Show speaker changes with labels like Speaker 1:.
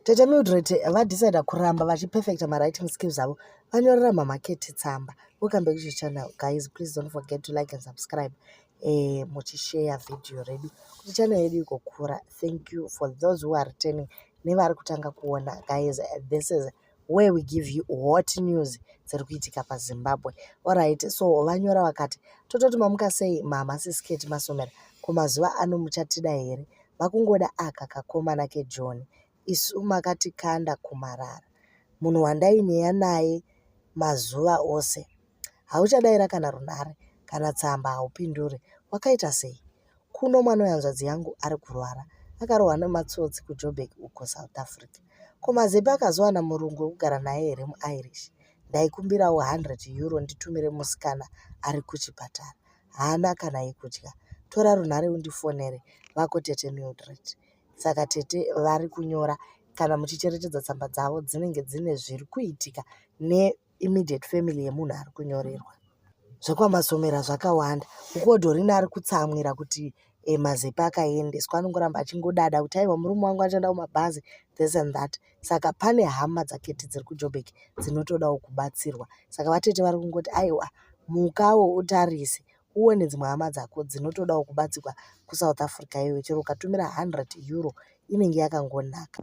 Speaker 1: tete mildred vadecida kuramba vachiperfecta mawriting skills avo vanyorera mamaketi tsamba welcome back to channel guys please don't forget to like and subscribe eh, muchisheya vhidhiyo redu kuti channel yedu igokura thank you for those who are returning nevari kutanga kuona guys this is where we give you hot news dziri kuitika pazimbabwe orit so vanyora vakati tototi mamuka sei mama sisketi masomera kumazuva ano muchatida here vakungoda aka kakomana kejohn isu makatikanda kumarara munhu wandaineya naye mazuva ose hauchadaira kana runhare kana tsamba haupindure wakaita sei Kuno mwana wehanzvadzi yangu ari kurwara, akarohwa nematsotsi kuJoburg uko South Africa. Ko Mazepe akazowana murungu wekugara naye here muIrish? Ndaikumbirawo 100 euro nditumire musikana ari kuchipatara. Haana kana yekudya. Tora runhare undifonere, vako tete Mildred. Saka tete vari kunyora kana muchicheretedza tsamba dzavo dzinenge dzine zviri kuitika ne immediate family yemunhu ari kunyorerwa zvekwamasomera zvakawanda ukuwo dorina ari kutsamwira kuti e, mazepa akaendeswa anongoramba achingodada kuti aiwa murume wangu achanda kumabhazi this and that saka pane hama dzaketi dziri kujobek dzinotodawo kubatsirwa saka vatete vari kungoti aiwa mukawo utarise uone dzimwe hama dzako dzinotodawo kubatsirwa kusouth africa iyoyo chero ukatumira 100 euro inenge yakangonaka